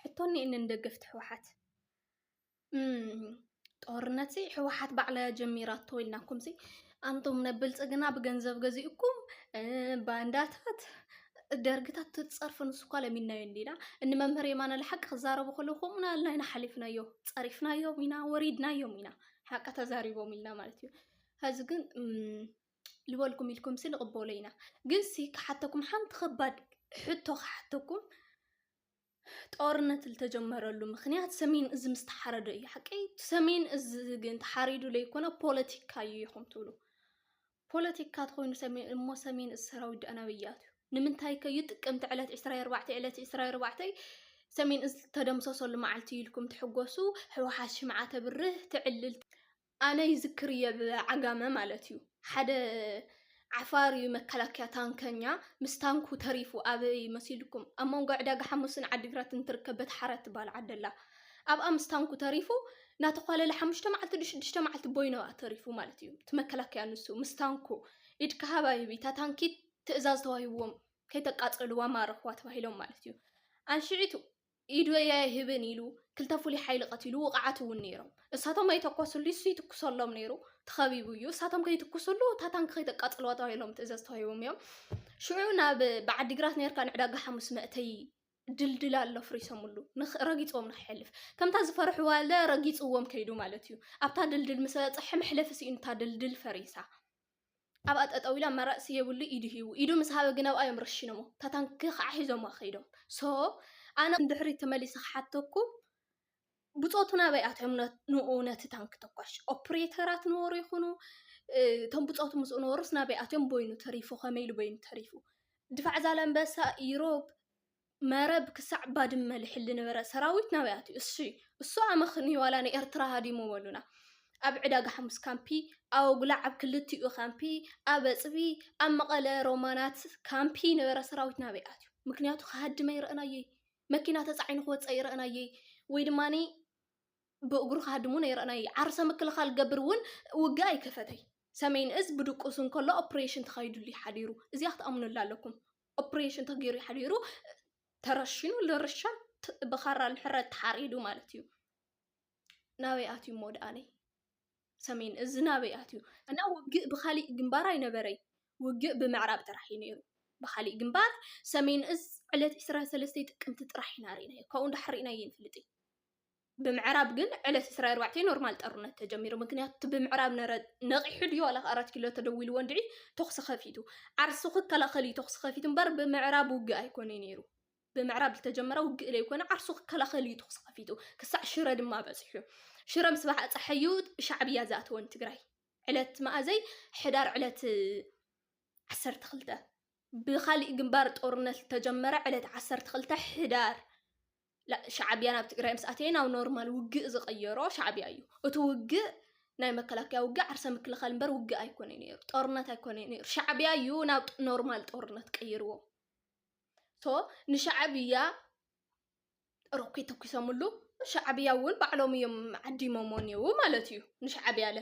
ሕቶ እኒኤኒ ንደገፍቲ ህወሓት ጦርነት ህወሓት ባዕላ እያ ጀሚራቶ ኢልናኩም ሲ ኣንቶም ነብልፅግና ብገንዘብ ገዚኡኩም ባንዳታት ደርግታት ትፀርፍ ንሱ እኳ ለሚናዮ እንዲና እኒ መምህር የማነ ለሓቂ ክዛረቡ ከለዉ ከምኡ ናልና ኢና ሓሊፍናዮ ፀሪፍናዮም ኢና ወሪድናዮም ኢና ሓቂ ተዛሪቦም ኢልና ማለት እዩ ሕዚ ግን ልበልኩም ኢልኩምሲ ንቕበሎ ኢና። ግንሲ ክሓተኩም ሓንቲ ከባድ ሕቶ ክሓተኩም ጦርነት ዝተጀመረሉ ምክንያት ሰሜን እዚ ምስ ተሓረዶ እዩ ሓቀይ ሰሜን እዚ ግን ተሓሪዱ ለይኮነ ፖለቲካ እዩ ኢኹም ትብሉ ፖለቲካ ትኾይኑ ሰሜን እሞ ሰሜን እዚ ሰራዊት ዶ ኣናበይ እያቱ ንምንታይ ከዩ ጥቅምቲ ዕለት 24 ዕለት 24 ሰሜን እዚ ተደምሰሰሉ መዓልቲ ኢልኩም ትሕጎሱ ህወሓት ሽምዓ ተብርህ ትዕልል ኣነ ይዝክር እየ ብ ዓጋመ ማለት እዩ ሓደ ዓፋር እዩ መከላከያ ታንከኛ ምስ ታንኩ ተሪፉ ኣበይ መሲልኩም ኣብ መንጎ ዕዳጋ ሓሙስን ዓዲግራትን ትርከብ በተሓረ ትባሃል ዓዲ ኣላ ኣብኣ ምስ ታንኩ ተሪፉ ናተኳለለ ሓሙሽተ መዓልቲ ዶ ሽዱሽተ መዓልቲ ቦይኑ ኣብኣ ተሪፉ ማለት እዩ እቲ መከላከያ ንሱ ምስ ታንኩ ኢድካ ሃብ ኣይብ እታ ታንኪ ትእዛዝ ተዋሂብዎም ከይተቃፀልዋ ማረኽዋ ተባሂሎም ማለት እዩ ኣንሽዒቱ ኢዱ እየ ኣይህብን ኢሉ ክልተ ፍሉይ ሓይሊ ቀቲሉ ውቕዓት እውን ነይሮም እሳቶም ኣይተኮስሉ እሱ ይትኩሰሎም ነይሩ ተኸቢቡ እዩ እሳቶም ከይትኩስሉ እታ ታንኪ ከይተቃፅልዋ ተባሂሎም ትእዘዝ ተዋሂቦም እዮም ሽዑ ናብ ብዓዲግራት ነርካ ንዕዳጋ ሓሙስ መእተይ ድልድል ኣሎ ፍሪሶምሉ ረጊፆም ንክሕልፍ ከምታ ዝፈርሕዋ ኣለ ረጊፅዎም ከይዱ ማለት እዩ ኣብታ ድልድል ምስ በፅሐ መሕለፊ ስኢኑ እታ ድልድል ፈሪሳ ኣብኣ ጠጠው ኢላ መረጽ የብሉ ኢዱ ሂቡ ኢዱ ምስ ሃበ ግን ኣብኣ እዮም ረሺኖሞ እታ ታንኪ ከዓ ሒዞማ ከይዶም ሶ ኣነ ንድሕሪት ተመሊሰ ክሓተኩም ብጾቱ ናበይ ኣትዮም ንኡ ነቲ ታንኪ ተኳሽ ኦፕሬተራት ነበሩ ይኹኑ እቶም ብጾቱ ምስኡ ነበሩስ ናበይ ኣትዮም በይኑ ተሪፉ ከመይ ኢሉ በይኑ ተሪፉ ድፋዕ ዛላምበሳ ኢሮብ መረብ ክሳዕ ባድመ ልሕል ልነበረ ሰራዊት ናበይ ኣትዩ? እሺ እሱ ኣመኽንዩ ዋላ ንኤርትራ ሃዲሙ በሉና። ኣብ ዕዳጋ ሓሙስ ካምፒ፣ ኣብ ኣጉላዕ ኣብ ክልቲኡ ካምፒ፣ ኣብ ኣፅቢ፣ ኣብ መቐለ ሮማናት ካምፒ ነበረ ሰራዊት ናበይ ኣትዩ? ምክንያቱ ክሃድም ኣይረእናዮይ፣ መኪና ተፃዒኑ ክወፅእ ኣይረእናዮይ፣ ወይ ድማ ብእግሩ ክሃድም እውን ኣይረእናዮይ። ዓርሰ ምክልኻል ገብር እውን ውግእ ኣይከፈተይ። ሰሜን እዝ ብድቁሱ እንከሎ ኦፕሬሽን ተኻይዱሉ እዩ ሓዲሩ። እዚኣ ክትኣምኑላ ኣለኩም። ኦፕሬሽን ተገይሩ ሓዲሩ ተረሺኑ ልርሻን ብኻራ ንሕረት ተሓሪዱ ማለት እዩ ናበይ ኣትዩ እሞ ደኣለይ ሰሜን እዚ ናበይ ኣትዩ እና ውግእ ብካሊእ ግንባር ኣይነበረይ ውግእ ብምዕራብ ጥራሕ እዩ ነይሩ ብካሊእ ግንባር ሰሜን እዝ ዕለት 23 ጥቅምቲ ጥራሕ ኢና ርኢናዮ ካብኡ ንዳሕር ርኢናዮ ይንፍልጥ እዩ ብምዕራብ ግን ዕለት ዕስራ ኣርባዕተ ኖርማል ጠሩነት ተጀሚሩ ምክንያቱ እቲ ብምዕራብ ነረ ነቂሑ ድዩ ዋላ ኣራት ኪሎ ተደዊልዎ እንድዒ ተኩሲ ከፊቱ ዓርሱ ክከላከል እዩ ተኩሲ ከፊቱ እምበር ብምዕራብ ውግእ ኣይኮነይ ነይሩ ብምዕራብ ዝተጀመረ ውግእ ለይኮነ ዓርሱ ክከላከል እዩ ተኩሲ ከፊቱ ክሳዕ ሽረ ድማ በፂሑ ሽረ ምስ ባሓፀሐ እዩ ሻዕብያ ዝኣተወ ንትግራይ ዕለት መኣዘይ ሕዳር ዕለት ዓሰርተ ክልተ ብኻሊእ ግንባር ጦርነት ዝተጀመረ ዕለት ዓሰርተ ክልተ ሕዳር ሻዕብያ ናብ ትግራይ ምስ ኣተየ ናብ ኖርማል ውግእ ዝቐየሮ ሻዕብያ እዩ። እቲ ውግእ ናይ መከላከያ ውግእ ዓርሰ ምክልኻል እምበር ውግእ ኣይኮነ ነይሩ፣ ጦርነት ኣይኮነ ነይሩ። ሻዕብያ እዩ ናብ ኖርማል ጦርነት ቀይርዎ። ሶ ንሻዕብያ ሮኬት ተኩሶምሉ ሻዕብያ እውን ባዕሎም እዮም ዓዲሞሞ እኔዉ ማለት እዩ ንሻዕብያ ለ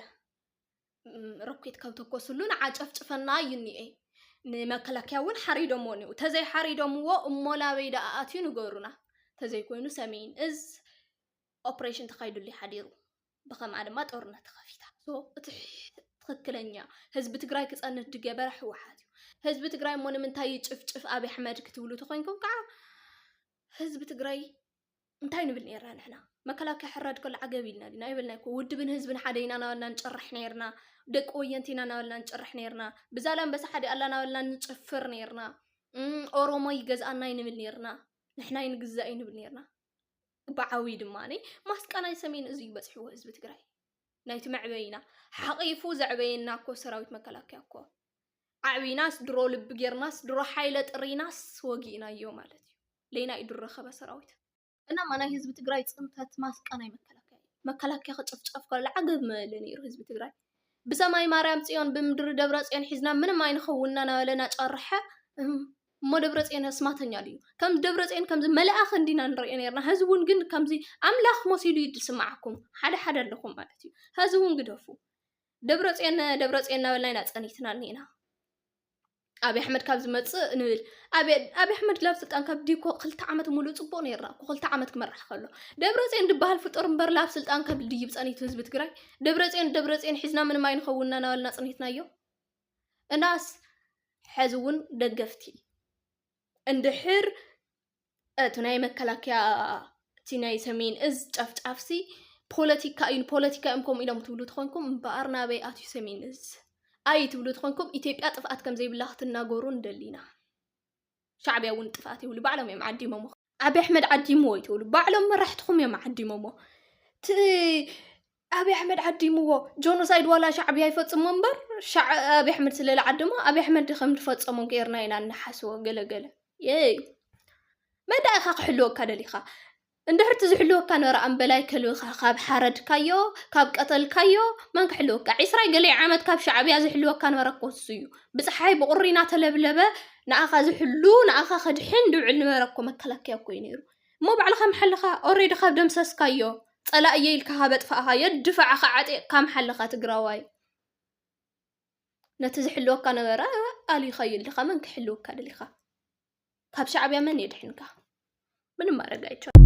ሮኬት ካብ ተኮስሉ ንዓ ጨፍጭፈና እዩ እኒኤ ንመከላከያ እውን ሓሪዶሞ እኒኡ ተዘይ ሓሪዶምዎ እሞ ናበይ ደኣ ኣትዩ ንገሩና ተዘይኮይኑ ሰሜን እዝ ኦፕሬሽን ተካይዱሉ ሓዲሩ ብከምኣ ድማ ጦርነት ተኸፊታ እቲ ትክክለኛ ህዝቢ ትግራይ ክፀንት ድገበረ ህወሓት እዩ ህዝቢ ትግራይ እሞ ንምንታይ ይጭፍጭፍ ኣብይ ኣሕመድ ክትብሉ ተኮይንኩም ከዓ ህዝቢ ትግራይ እንታይ ንብል ኔርና ንሕና መከላከያ ሕራድ ከሎ ዓገብ ኢልና ዲና ኣይበልናይ እኮ ውድብን ህዝብን ሓደ ኢና እናበልና ንጭርሕ ኔርና ደቂ ወየንቲ ኢና እናበልና ንጭርሕ ኔርና ብዛላምበሳ ሓደ ኣላ እናበልና ንጭፍር ኔርና እም፣ ኦሮሞ ይገዝኣና እዩ ንብል ኔርና ንሕና ይንግዛእ እዩ ንብል ኔርና ብዓብዪ ድማ ነይ ማስቃ ናይ ሰሜን እዚ እዩ በፅሕዎ ህዝቢ ትግራይ ናይቲ መዕበይና ሓቒፉ ዘዕበየና እኮ ሰራዊት መከላከያ እኮ ዓዕቢናስ ድሮ ልቢ ጌርናስ ድሮ ሓይለ ጥሪናስ ወጊእናዮ ማለት እዩ። ሌናይ ዱር ረከበ ሰራዊት እናማ ናይ ህዝቢ ትግራይ ፅንተት ማስቃ ናይ መከላከያ እዩ። መከላከያ ክጭፍጨፍ ከሎ ዓገብ ምበለ ነይሩ ህዝቢ ትግራይ። ብሰማይ ማርያም ፅዮን ብምድሪ ደብረፅዮን ሒዝና ምንም ኣይንኸውንና ናበለ ናጨረሐ እም እሞ ደብረፅዮን ኣስማተኛ ድዩ? ከም ደብረፅዮን ከምዚ መላእኽ እንዲና ንሪኦ ነይርና ሀዚ እውን ግን ከምዚ ኣምላኽ መሲሉ እዩ ዝስማዓኩም ሓደ ሓደ ኣለኹም ማለት እዩ ሀዚ እውን ግደፉ። ደብረፅዮን ደብረፅዮን እናበልና ኢና ፀኒትና እኒኤና። ኣብይ ኣሕመድ ካብ ዝመፅእ ንብል ኣብይ ኣሕመድ ላብ ስልጣን ካብ ዲኮ ክልተ ዓመት ሙሉእ ፅቡቅ ነይርና እኮ ክልተ ዓመት ክመራሕ ከሎ ደብረፅዮን ድበሃል ፍጡር እምበር ላብ ስልጣን ካብ ድይብ ፀኒቱ ህዝቢ ትግራይ ደብረፅዮን ደብረፅዮን ሒዝና ምንም ኣይንኸውንና ናበልና ፅኒትናዮ እናስ ሕዚ እውን ደገፍቲ እንድሕር እቲ ናይ መከላከያ እቲ ናይ ሰሜን እዝ ጨፍጫፍሲ ፖለቲካ እዩ ፖለቲካ እዮም ከምኡ ኢሎም ትብሉ ትኾንኩም እምበኣር ናበይ ኣትዩ ሰሜን እዝ ኣይ ትብሉ ትኾንኩም ኢትዮጵያ ጥፍኣት ከም ዘይብላ ክትናገሩ ንደሊ ኢና ሻዕቢያ እውን ጥፍኣት ይብሉ ባዕሎም እዮም ዓዲሞሞ ዓብዪ ኣሕመድ ዓዲምዎ እዩ ትብሉ ባዕሎም መራሕትኹም እዮም ዓዲሞሞ እቲ ኣብይ ኣሕመድ ዓዲምዎ ጆኖሳይድ ዋላ ሻዕብያ ይፈፅሞ እምበር ሻዕ ኣብይ ኣሕመድ ስለ ዝዓደሞ ኣብይ ኣሕመድ ከም ዝፈፀሞ ጌርና ኢና እንሓስቦ ገለገለ የይ መን ደኣ ኢኻ ክሕልወካ ደሊኻ እንድሕር እቲ ዝሕልወካ ነበረ ኣምበላይ ከልብኻ ካብ ሓረድካዮ ካብ ቀተልካዮ መን ክሕልወካ ዒስራይ ገለይ ዓመት ካብ ሻዕብያ ዝሕልወካ ነበረ እኮ እሱ እዩ ብፀሓይ ብቑሪ እናተለብለበ ንኣኻ ዝሕሉ ንኣኻ ከድሕን ድውዕል ነበረ እኮ መከላከያ እኮ እዩ ነይሩ እሞ ባዕልኻ ምሓልኻ ኦሬዲ ካብ ደምሰስካዮ ፀላኢ እየ ኢልካ ካብ ኣጥፋእኻዮ ድፋዕኻ ዓጢቕካ ምሓለኻ ትግራዋይ ነቲ ዝሕልወካ ነበረ ኣሊኻዮ ኣለኻ መን ክሕልወካ ደሊኻ ካብ ሻዕብያ መን የድሕንካ ምንም ማድረግ ኣይቻልም